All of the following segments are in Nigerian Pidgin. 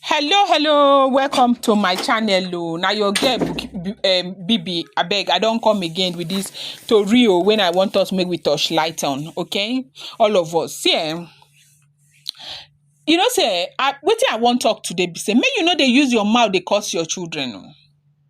Hello, hello, welcome to my channel. Oh, now your girl Bu- um, Bibi. I beg, I don't come again with this story oh, when I want us make we touch light on, okay? All of us. See, eh, you know, say, I, what I want talk today, be say, make you know they use your mouth, they curse your children. oh.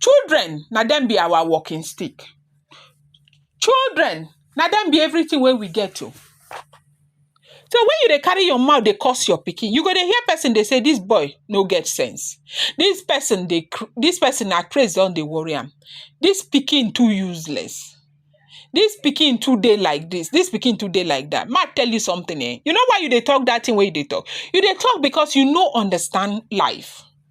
Children na dem be our walking stick, children na dem be everytin wey we get o. So wen you dey carry your mouth dey curse your pikin, you go dey hear pesin dey say dis boy no get sense, dis pesin dey cra, dis pesin na craze don dey worry am, dis pikin too useless, dis pikin too dey like dis, dis pikin too dey like dat. Make I tell you sometin um, you know why you dey talk dat tin wey you dey talk? You dey talk because you no understand life.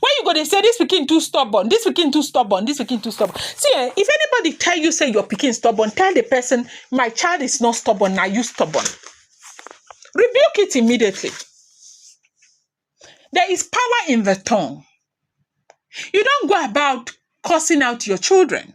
Why you go dey say this pikin too stubborn, this pikin too stubborn, this pikin too stubborn? See eh, if anybody tell you say your pikin stubborn, tell the person, my child is not stubborn, now you stubborn. Rebuke it immediately. There is power in the tongue. You don't go about cursing out your children.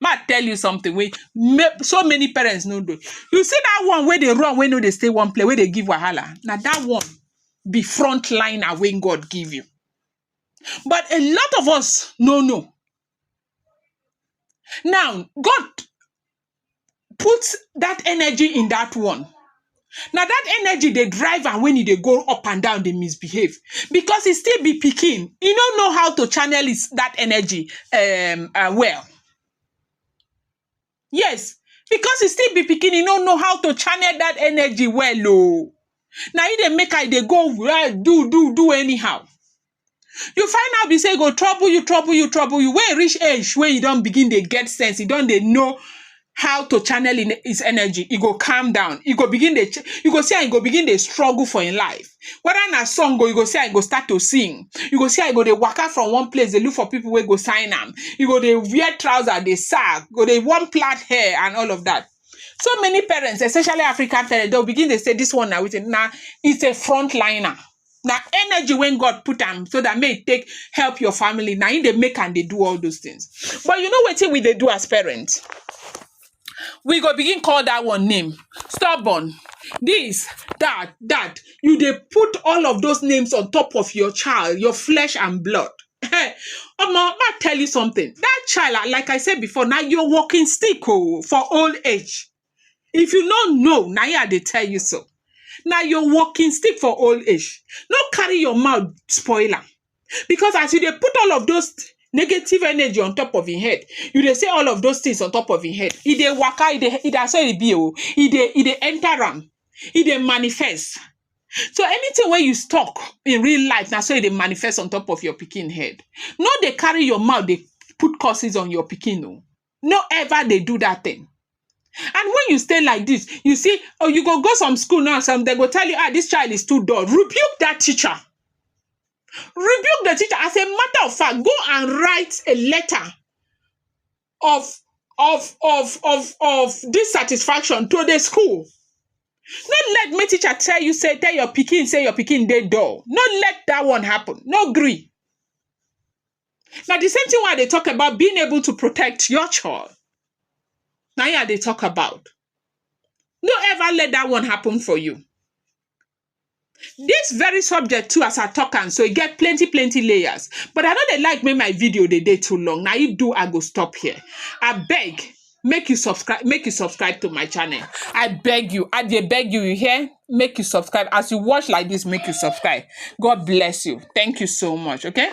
Mak I tell you something wey may so many parents no know. You see dat one wey dey run wey no dey stay one place, wey dey give wahala, na dat one be front liner wey God give you. But a lot of us no know. Now, God put dat energy in dat one. Na that energy dey drive am when e dey go up and down dey misbehave because e still be pikin, e no know how to channel his that energy um well. Yes, because e still be pikin e no know how to channel that energy well o. Na im dey make am e dey go do do do anyhow. You find out be sey e go trouble you, trouble you, trouble you, wey e reach age wey you don begin dey get sense, you don dey know how to channel im his energy, e go calm down, e go begin dey ch, you go see am e go begin dey struggle for im life. Whether na song o, you go see am e go start to sing, you go see am e go dey waka from one place dey look for pipu wey go sign am, e go dey wear trouser dey serve, go dey wan plait hair and all of dat. So many parents especially African parents, dey go begin dey sey dis one na wetin, na is a front liner. na energy wey God put am so dat make e take help your family na im dey make am dey do all those things but you know wetin we dey do as parent we go begin call dat one name stubborn dis, dat, dat you dey put all of those names on top of your child your flesh and blood ehen omo ma tell you something dat child like I said before na your walking stick oh for old age If you no know, na im I dey tell you so. Na your walking stick for old age. No carry your mouth spoil am. Because as you dey put all of those negative energy on top of im head, you dey say all of those things on top of im head, e dey waka, e dey e na so e be o. E dey e dey enter am, e dey manifest. So anything wey you talk in real life, na so e dey manifest on top of your pikin head. No dey carry your mouth dey put curses on your pikin o. no ever dey do dat thing and when you stay like dis you see or you go go some school now some dem go tell you ah dis child is too dull rebuke dat teacher rebuke the teacher as a matter of fact go and write a letter of of of of of dissatisfaction to the school no let make teacher tell you sey tell your pikin sey your pikin dey dull no let dat one happen no gree Now the same thing why they talk about being able to protect your child. Now yeah, they talk about. No ever let that one happen for you. This very subject too, as I talk and so it get plenty, plenty layers. But I know they like me my video they day too long. Now you do, I go stop here. I beg. make you subscribe make you subscribe to my channel i beg you i dey beg you you hear make you subscribe as you watch like this make you subscribe god bless you thank you so much okay